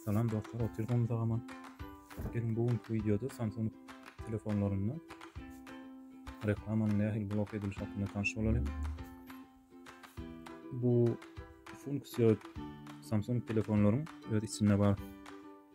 Salam dostlar, oturdyň tagama. Gelin bu günki videoda Samsung telefonlarynda reklamanyň nähili blok edilişi hakynda tanş bolalyň. Bu funksiýa Samsung telefonlaryň öz içinde bar.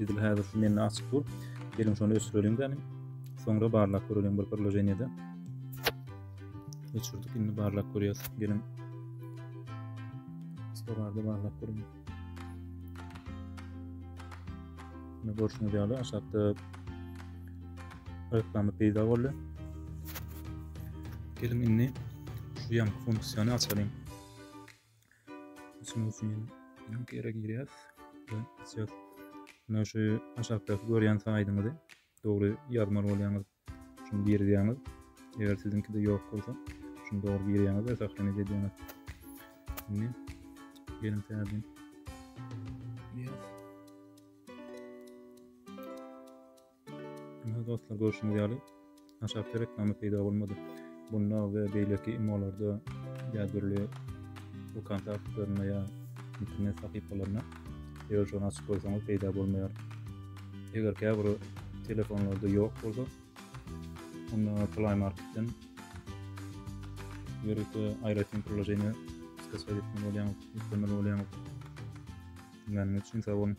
Edil häzir şu mende açyk dur. Geliň şony öçürelim gäni. Soňra barlap görelim bir priloženiýede. Öçürdik, indi barlap görýäs. Geliň. Stolarda barlap görelim. Indi görşüňiz ýaly aşakda reklama peýda boldy. Geliň indi şu ýan funksiýany açalyň. Açmak üçin link ýere girýäs we açýas. Muna şu aşakdaky görýän saýdyňyzy dogry ýazmaly bolýaňyz. Şuny girizýäňiz. Eger siziňkide ýok bolsa, şuny dogry girýäňiz we sahlanýet edýäňiz. Şimdi gelin täzeden girýäs. Hörmetli dostlar, görşüňiz ýaly, aşakda reklama peýda bolmady. Bunda we beýleki imolarda ýa dürli bu kontaktlarynda ýa internet sahypalarynda eger şony açyp goýsaňyz peýda bolmaýar. Eger käbir telefonlarda ýok bolsa, onda Play Marketden ýörite aýratyn priloženiýe skasat etmeli bolýaň, ýüklemeli bolýaň. Diňläniňiz üçin sag boluň.